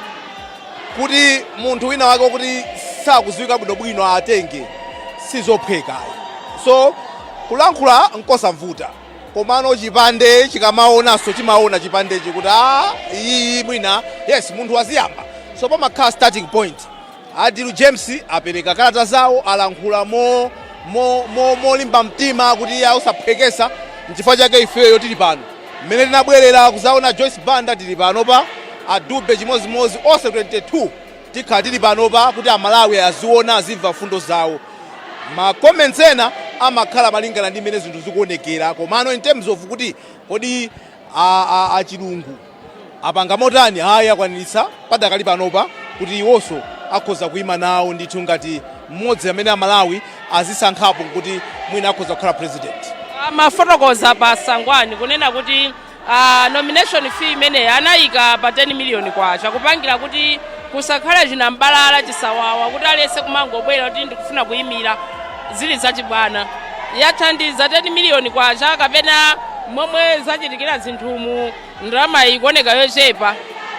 kuti munthu wina wake wakuti sakuziwika bwinobwino atenge sizophweka so kulankhula nkosavuta komano chipande chikamaonanso chimaona chipandechi kuti a iyiyi mwina yes munthu waziyamba so pamakhala starting point adilu james apereka kalata zawo alankhula mo mo mo molimba mtima kuti iye sakuphwekesa nchifukwa chake ifeyo tili pano Mmene tinabwerera kuzaona Joyce Banda tili panopa, a Dube chimozimozi onse 22 tikhala tili panopa kuti a Malawi aziona azimva mfundo zawo. Ma comments ena amakhala malingana ndi mmene zinthu zikuonekera komano in terms of kuti kodi a, a, a Chilungu Apanga motani? Ayi, akwaniritsa padakali panopa kuti iwonso akhoza kuima nawo ndithu ngati mmodzi amene Amalawi azisankhapo n'kuti mwina akhoza kukhala pulezidenti. Amafotokoza a Sangwani kunena kuti nomination fee imeneyi anaika pa K10 million kupangira kuti kusakhale chinam'balala, chisawawa, kuti aliyense kumangobwera kuti ndikufuna kuimira zili zachibwana. Yathandiza K10 million kapena momwe zachitikira zinthumu? Ndalamayi ikuoneka yochepa.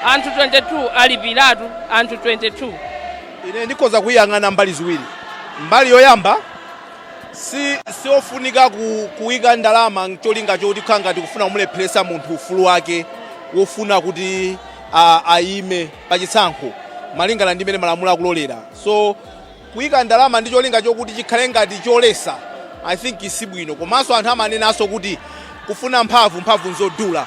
Anthu 22 alipiratu anthu 22. Ine ndikhoza kuiyang'ana mbali ziwiri. Mbali yoyamba, si siofunika ku kuika ndalama n'cholinga choti kukhala ngati kufuna kumulepheretsa munthu ufulu wake wofuna kuti a, aime pa chisankho malingana ndi mmene malamulo akulolera. So Kuika ndalama ndi cholinga chokuti chikhale ngati cholesa I think sibwino komanso anthu amanenanso kuti kufuna mphamvu mphamvu nzodula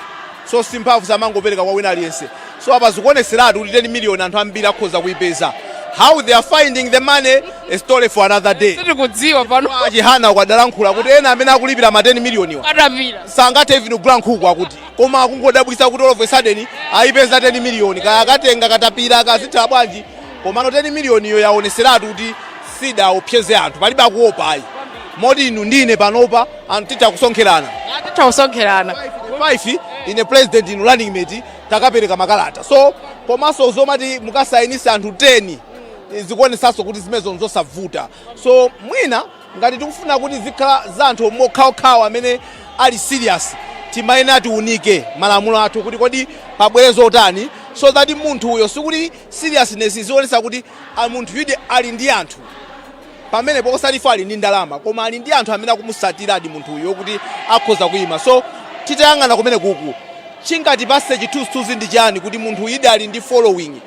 so simphamvu samangopereka kwa wina aliyense so apa zikuoneseratu kuti 10 million anthu ambiri akhoza kuipeza how they are finding the money a story for another day sitikudziwa pano A Chihana uko adalankhula kuti ena amene akulipira ma 10 million wa atapira sangathe even kugula nkhuku akuti koma akungodabwisa kuti all of a sudden ayipeza 10 million kaya akatenga katapira akazitha bwanji Komano 10 million yo yaoneseratu kuti sidaopseze anthu palibe akuopa ayi moti inu ndi ine panopa anthu titha kusonkherana titha kusonkherana 5 ine president inu running mate takapereka makalata so komanso zomati mukasayinise anthu 10 zikuonesanso kuti zimenezo nzosavuta so mwina ngati tikufuna kuti zikhala za anthu okhaokhawo amene ali serious timayenera tiunike malamulo athu kuti kodi pabwere zotani so that munthuyo sikuti seriousness izionetsa kuti a munthuyudi ali ndi anthu pamenepo osati fo ali ndi ndalama koma ali ndi anthu amene akumusatiradi munthu uyu okuti akhoza kuyima so titayang'ana kumene kuku chingatipase chithunzithunzi ndi chani kuti munthu uyidi ali ndi following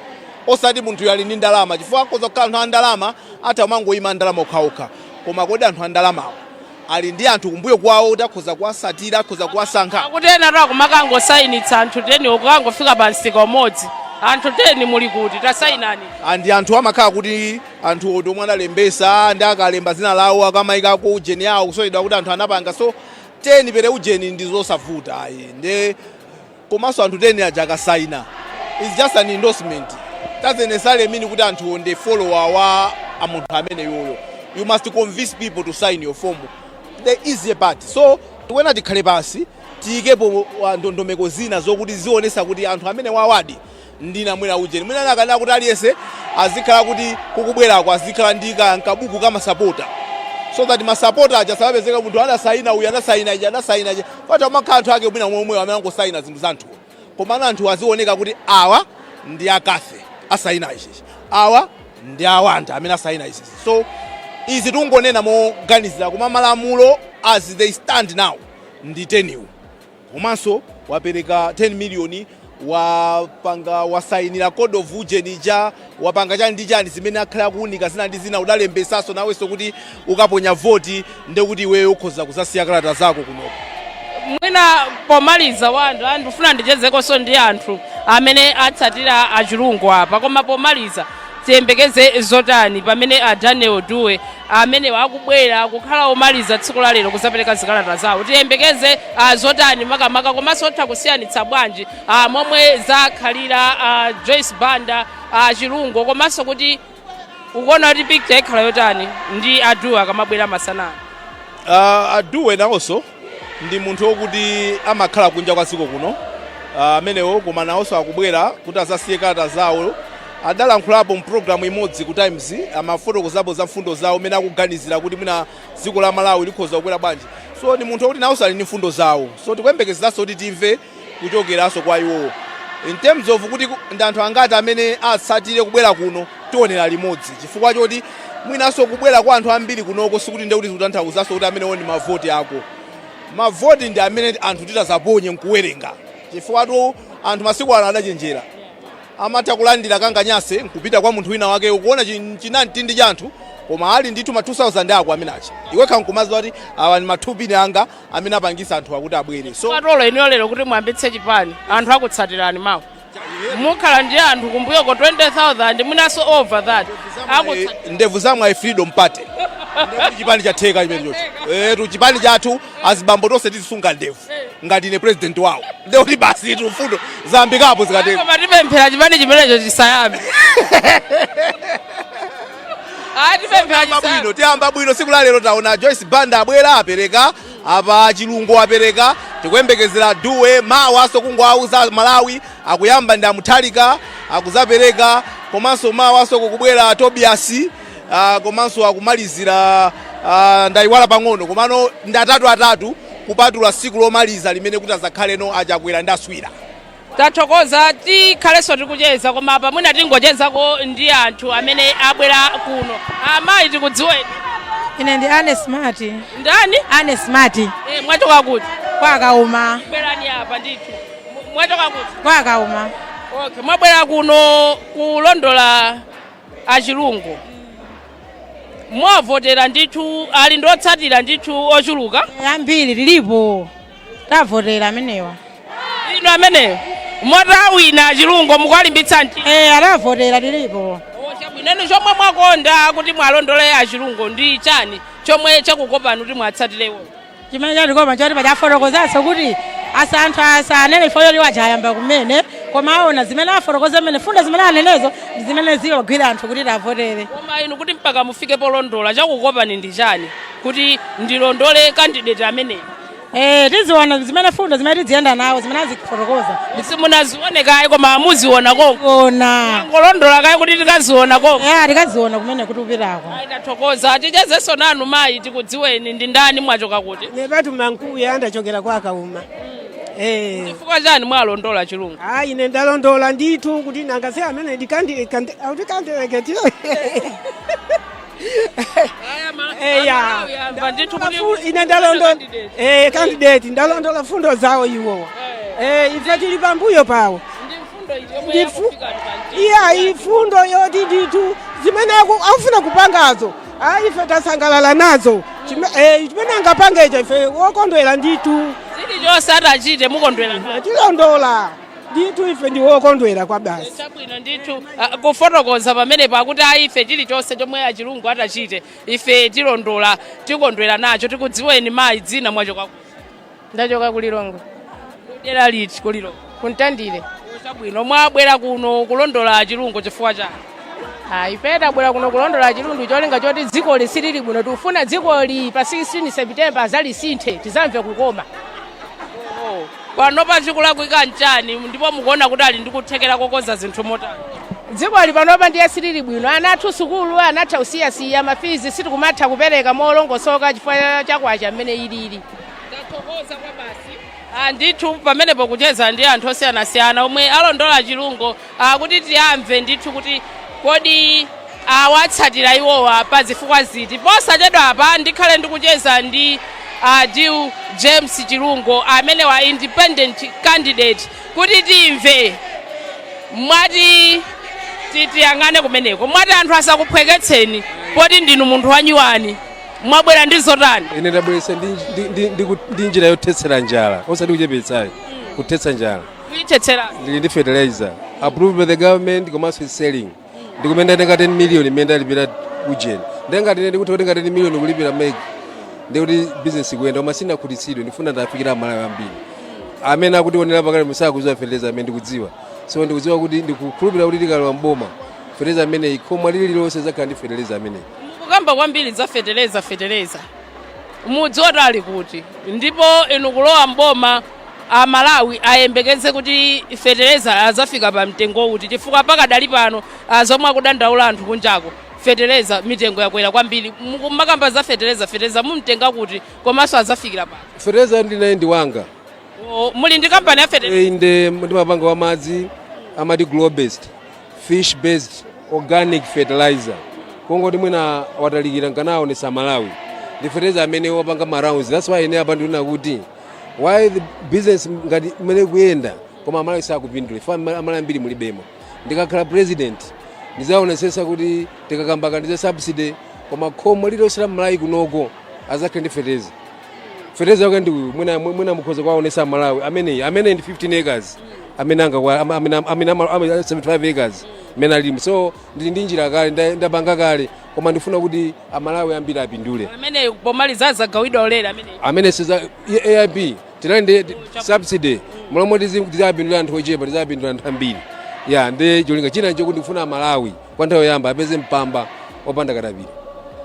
osati munthu uyu ali ndi ndalama chifukwa akhoza kukhala anthu a ndalama atha kumangoyima a ndalama okhaokha koma kodi anthu a ndalamawo ali ndi anthu kumbuyo kwawo kuti akhoza kuwasatira, akhoza kuwasankha. kuti enatu akumakangosayinitsa anthu teniwo kukangofika pa msika umodzi anthu teni muli kuti tasayinani and anthu amakhala kuti anthu oti omwe analembesa ndi akalemba dzina lawo akamayikako ujeni yawo kusonyeza kuti anthu anapanga so teni per ujeni ndi zosavuta ayi nde komaso anthu 10 aja akasaina it's just an endorsement doesn't necessarily mean kuti anthuwo ndi follower wa a munthu ameneyoyo you must convince people to sign your form the easier part so tikuyenera tikhale pansi tiyikepo ndondomeko zina zokuti zionesa kuti anthu amenewawadi ndi na- mwina ujeni mwina anakanena kuti aliyese azikhala kuti kukubwerako azikhala ndi ka- nkabuku ka masapota so that masapota aja sapezeka munthu anasaina uyu anasaina ija anasaina ija pata umakhala anthu ake mwina omwewo amene angosaina zinthu za anthuwo komano anthu azioneka kuti awa ndi a Cathy asaina ichichi awa ndi a Wonder amene asaina ichichi so izi tungonena moganizira koma malamulo as they stand now ndi teniwo komanso wapereka 10 million wapanga wasayinira code of ujeni ija wapanga chani ndi chani zimene akhala akuunika zina ndi zina udalembesaso nawenso kuti ukaponya voti ndekuti iweyo ukhoza kuzasiya kalata zako kunoko mwina pomaliza Wonder ndifuna ndichezekonso ndi anthu amene atsatira a Chilungo apa koma pomaliza Tiyembekeze zotani pamene a Daniel Duwe amenewa akubwera kukhala omaliza tsiku la lero kuzapereka zikalata zawo? Tiyembekeze a zotani makamaka komanso otha kusiyanitsa bwanji a momwe zakhalira a Joyce Banda a Chilungo komanso kuti ukuona kuti picture ikhala yotani ndi a Duwe akamabwera masana? Uh, a Duwe nawonso ndi munthu okuti amakhala kunja kwa dziko kuno amenewo koma nawonso akubwera kuti azasiye kalata zawo adalankhulapo mu program imodzi ku times amafotokozapo za mfundo zawo mene akuganizira kuti mwina dziko la malawi likhoza kukwera bwanji so ndi munthu okuti nawonso ali ndi mfundo zawo so tikuyembekezeranso kuti timve kuchokeranso kwa iwowo in terms of kuti ndi anthu angati amene atsatire kubwera kuno tionera limodzi chifukwa choti mwinanso kubwera kwa anthu ambiri kunoko sikuti ndekuti zikutanthauzanso kuti amenewo ndi mavoti ako mavoti ndi amene anthu titazaponye nkuwerenga chifukwatu anthu masiku ano adachenjera amatha kulandira kanganyase nkupita kwa munthu wina wake ukuona chin- chinamtindi cha anthu koma ali ndithu ma 2000 ako amene acha iwekha nkumaziwa kuti awa ndi ma two pin anga amene apangisa anthuwa kuti abwere so Patolo inuyo lero kuti muyambitse chipani anthu akutsatirani mawa mukhala ndi anthu kumbuyoko 20000 mwinaso over that akutsa- ndevu za mwayi freedom party Ndevu chipani chatheka chimenechotu etu chipani chathu azibambo tonse tizisunga ndevu ngati ine president wawo ndekuti basi tu mfundo zayambikapo zikatheka Koma tipemphera chipani chimenecho chisayambe Ah, tipemphe Tiyamba bwino, achisankho. tiyamba bwino siku la lero taona Joyce Banda abwera apereka apa Chilungo apereka tikuyembekezera Dube mawaso kungowauza aMalawi akuyamba ndi a Mutharika akuzapereka komanso mawaso kukubwera Tobias ah, komanso akumalizira ah, ndayiwala pang'ono komano ndi atatu atatu kupatula siku lomaliza limene kuti azakhale ndi a Chakwera ndi a Swira tathokoza tikhalenso tikucheza koma apa mwina tingochezako ndi anthu amene abwera kuno amayi tikudziweni ine ndi Agnes Smart ndani Agnes Smart e, mwachoka kuti kwa Kauma bwerani apa ndithu Mu- mwachoka kuti kwa Kauma okay mwabwera kuno kulondola a Chilungo muwavotera ndithu ali ndi otsatira ndithu ochuluka ambiri tilipo tiwavotera amenewa inu ameneyo moti awina a Chilungo mukuwalimbitsa mtima e tiwavotera tilipo chabwino chomwe mwakonda kuti muwalondole a Chilungo ndi chani chomwe chakukopani kuti muwatsatire iwo chimene chatikopa choti pachafotokozanso kuti asa anthu asanene ifeyo kuti wachayamba kumene koma aona zimene afotokoza mmene mfundo zimene anenezo ndi zimene ziwagwira anthu kuti tiwavotere koma inu kuti mpaka mufike polondola chakukopani ndi chani kuti ndilondole kandideti ameneyo Eh, tiziona zimene mfundo zimene tidziyenda nawo zimene azifotokoza. simunazione kaye koma muziona konko Ona. mwangolondola kaye kuti tikaziona konko Eh, tikaziona kumene kuti upitako. Ayi, tathokoza tichezenso nanu mayi tikudziweni ndi ndani mwachoka kuti nepatu mankuya andachokera kwa Kauma eh chifukwa chani mwalondola Chilungo hayi ine ndalondola ndithu kuti nanga si amene ndikandikandikandileketire eya Ndafu- ine ndalondola eh candidate ndalondola mfundo zawo iwowa eh ife tili pambuyo pawo Ndifu- iya mfundo zoti ndithu zimene aku- akufuna kupangazo ayi ife tasangalala nazo Chime- eh, chimene angapangecho ife wokondwera ndithu chilichonse atachite mukondwera nacho tilondola ndithu ife ndi wokondwera kwabasi chabwino ndithu ah, kufotokoza pamenepo kuti ayi ife chilichonse chomwe a Chilungo atachitire ife tilondola tikondwera nacho tikudziweni mayi dzina mwachoka ndachoka ku Lilongwe dera liti ku Lilongwe ku Mtandire chabwino mwabwera kuno kulondola a Chilungo chifukwa chani Ah, ife tabwera kuno kulondola a Chilungo cholinga choti dzikoli silili bwino tikufuna dzikoli pa 16 september azalisinthe tizamve kukoma Panopa chikulakwika nchani ndipo mukuona kuti ali ndi kuthekera kokonza zinthu motani? Dzikoli panopa ndiye silili bwino. Ana athu sukulu anatha kusiyasiya, mafizi sitikumatha kupereka molongosoka chifukwa cha kwacha mmene ilili. Ndathokoza kwabasi. Ah, ndithu pamenepo kucheza ndi anthu osiyanasiyana omwe alondola Chilungo uh, kuti tiwamve ndithu kuti kodi awatsatira iwowa pa zifukwa ziti posachedwapa ndikhale ndikucheza ndi uh, Adil James Chilungo amene wa independent candidate kuti timve mwati tiyang'ane kumeneko mwati anthu asakuphweketseni poti ndinu munthu wanyuwani mwabwera ndi zotani ine ndabweretsa ndi- ndi- ndi- ndi ku- ndi njira yothetsera njala osati kuchepetsa ayi kuthetsa njala kuyithetsera ndili ndi fertilizer approved by the government komanso is selling ndikumene ndatenga 10 million imene ndalipira ujeni ndengati ine ndikutha kutenga 10 million kulipira MEC ndikuti business ikuyenda koma sindinakhutitsidwe ndifuna ndafikire amalawi ambiri amene akutiwonera pa kale musakuziwa fertilizer amene ndikudziwa so ndikudziwa kuti ndikukhulupirira kuti tikalowa mboma fertilizer ameneyi khomo lililonse lizakhala ndi fertilizer ameneyi mukukamba kwambiri za fetereza fetereza mudziwa kuti ali kuti ndipo inu kulowa mboma a Malawi ayembekeze kuti fetereza azafika pa mtengo uti chifukwa pakadali pano ah, zomwe akudandaula anthu kunjako fetereza mitengo yakwera kwambiri mukumakamba za fetereza fetereza mumtenga kuti komanso azafikira pa fetereza ndinaye ndi wanga O, muli ndi kampani ya fetereza Eh, inde ndimapanga wa madzi amati glow based fish based organic fertilizer kongoti mwina watalikira nkanaonesa malawi ndi fertilizer amene wapanga ma rounds that's why ine apa ndinena kuti why the business ngati imene kuyenda koma amalawi sakupindula ife amalawi ambiri mulibemo ndikakhala president ndizaonesesa kuti tikakamba kaya ndi za subsidy koma khomo lililonse la mmalawi kunoko azakhale ndi fertilizer fertilizer yake ndi uyu mwina mwina mukhoza kwaonesa malawi amene amene ndi 15 acres amene anga kwa amene amene ama- ama- 75 acres amene alimo so ndili ndi njira kale nda- ndapanga kale koma ndifuna kuti amalawi ambiri apindule amene pomaliza adzagawidwa ulere amene amene siza aip tinali ndi subsidy mmalo moti izapindule anthu ochepa izapindula anthu ambiri ya ndi cholinga china chokuti ndikufuna amalawi kwa nthawi yoyamba apeze mpamba opanda katapira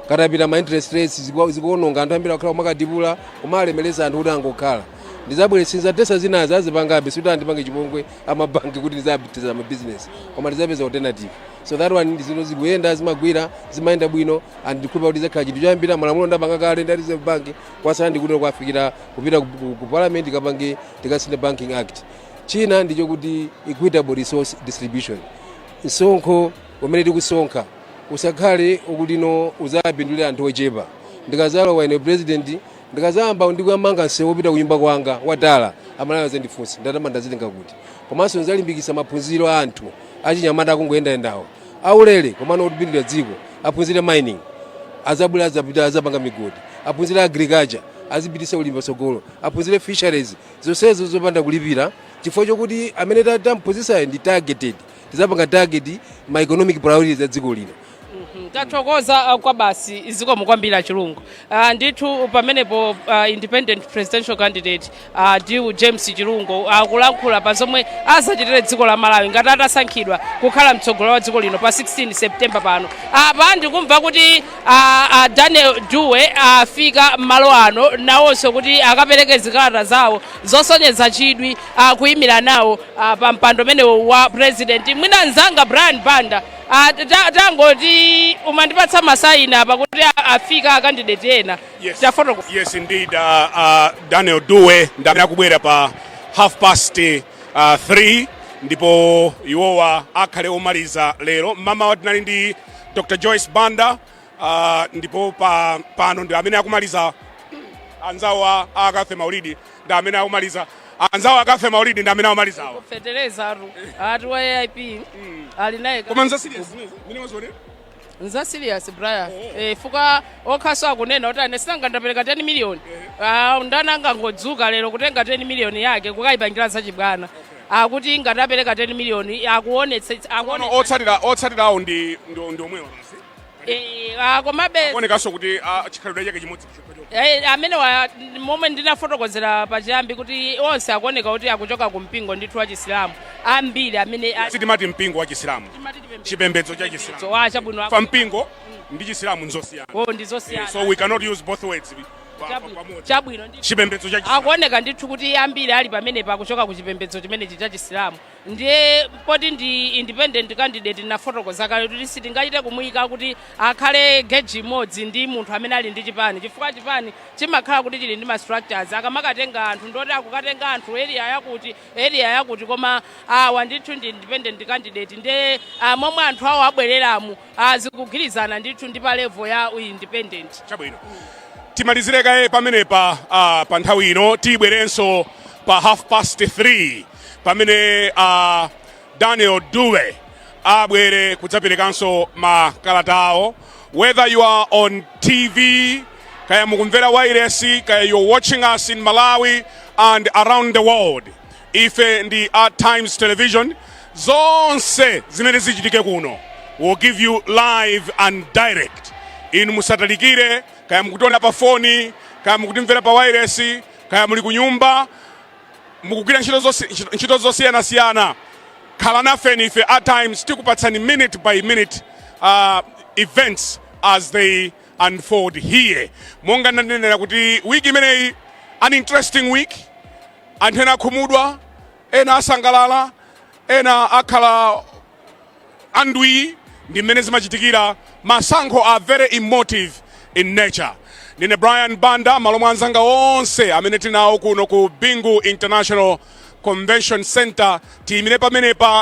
katapira ma interest rates ziku- zikuononga anthu ambiri akhala kumakadibula kumalemeresa anthu kuti angokhala ndizabweretsa tesa zinazi azipangabe sikuti andipange chipongwe amabanki kuti ndizapitiza mabizinesi koma ndizapeza alternative so that one ndi zinthu zikuyenda zimagwira zimayenda bwino and ndikhulupira kuti izakhala chinthu choyambira malamulo ndapanga kale ndi a reserve bank kwasala ndikuti kwafikira kupita ku- ku- ku parliament tikapange tikasinthe banking act china ndicho kuti equitable resource distribution msonkho umene tikusonkha usakhale okuti no uzapindulira anthu ochepa ndikazalowa ine president Ndikadzayamba ndi kukamanga msewu wopita kunyumba kwanga wa tala, Amalawi adzandifunsa, ndalama ndazitenga kuti? Komanso ndidzalimbikitsa maphunziro a anthu achinyamata akungoyendayendawo, aulere komano otipindulira dziko, aphunzire mining, adzabwere adzapanga migodi, aphunzire agriculture, azipititsa ulimi patsogolo, aphunzire fisheries, zonsezo zopanda kulipira chifukwa chokuti amene tam'phunzitsayo ndi targeted. Tidzapanga target ma economic priorities a dziko lino. tathokoza uh, kwabasi zikomo kwambiri a chilungo uh, ndithu pamenepo uh, independent presidential candidate uh, adil james chilungo akulankhula pa zomwe azachitire dziko la malawi ngati atasankhidwa kukhala mtsogoleri wa dziko lino pa 16 september pano apa ndikumva kuti uh, uh, daniel dube afika malo ano nawonso kuti akapereke zikalata zawo zosonyeza chidwi uh, kuyimira nawo uh, pa mpando umenewo wa president mwina mzanga brian banda Ah, ta- ta- tangoti umandipatsa masaini apa kuti a- afika akandideti ena Yes. tafotokoza Yes, indeed. Uh, uh, Daniel Dube ndamene akubwera pa half past uh, three ndipo iwowa akhale omaliza lero mmamawa tinali ndi Dr. Joyce Banda uh, ndipo pa, pano ndi amene akumaliza anzawo a Cathy Maulidi ndi amene akumaliza anzawo a cathy maulidi ndi amene akumaliza awa feteleza atu ati wa aip ali naye ka- koma nza serious mene wazionera nza serious brian eh, fukwa okhanso akunena kuti ine sinanga ndapereka 10 miliyoni Ah, ndani angangodzuka lero kutenga 10 miliyoni yake kukayipangira zachibwana akuti ngati apereka 10 miliyoni akuonetse akuone otsatira otsatira awo ndi ndi ndi omwewa basi Eh, ah, komabe akuonekanso kuti ah, chikhalidwe chake chimodzi chokha chokha Eh, amene mwa momwe ndinafotokozera pachiyambi kuti onse akuoneka kuti akuchoka ku mpingo ndithu wa chisilamu ambiri amene a- sitimati mpingo wa chisilamu timati tipembe- chipembedzo cha chisilamu So, ah, chabwino fukwa mpingo ndi chisilamu nzosiyana Oh, Eh, ndizosiyana so we cannot use both words pa- pa- Chabwino- pamodzi. chabwino ndi chipembedzo cha chisilamu akuoneka ndithu kuti ambiri ali pamenepa akuchoka ku chipembedzo chimenechi cha chisilamu ndiye poti ndi independent candidate ndinafotokoza kale kuti sitingachite kumuyika kuti akhale geji imodzi ndi munthu amene ali ndi chipani chifukwa chipani chimakhala kuti chili ndi ma structures akamakatenga anthu ndoti akukatenga anthu area yakuti area yakuti koma awa ndithu ndi independent candidate ndiye ah, momwe anthu awo abwereramu ah, zikugwirizana ndithu ndi pa level ya u independent chabwino timalizire kaye pamenepa ah, pa nthawi ino tibwerenso pa half past 3 pamene a daniel duwa abwere kudzaperekanso makalata awo whether you are on tv kaya mukumvera wairesi kaya you're watching us in malawi and around the world ife ndi a times television zonse zimene zichitike kuno we'll give you live and direct inu musatalikire kaya mukutiona pa foni kaya mukutimvera pa wairesi kaya muli kunyumba mukugwira ntchito zosi- ntchito- ntchito zosiyanasiyana khalanafeni ife at times tikupatsani minute by minute uh, events as they unfold here monga ndanenera kuti wiki imeneyi an interesting week anthu ena akhumudwa ena asangalala ena akhala andwii ndi mmene zimachitikira masankho are very emotive in nature ndine brian banda malo mwa anzanga onse amene tinawo kuno ku bingu international convention center tiyimire pamenepa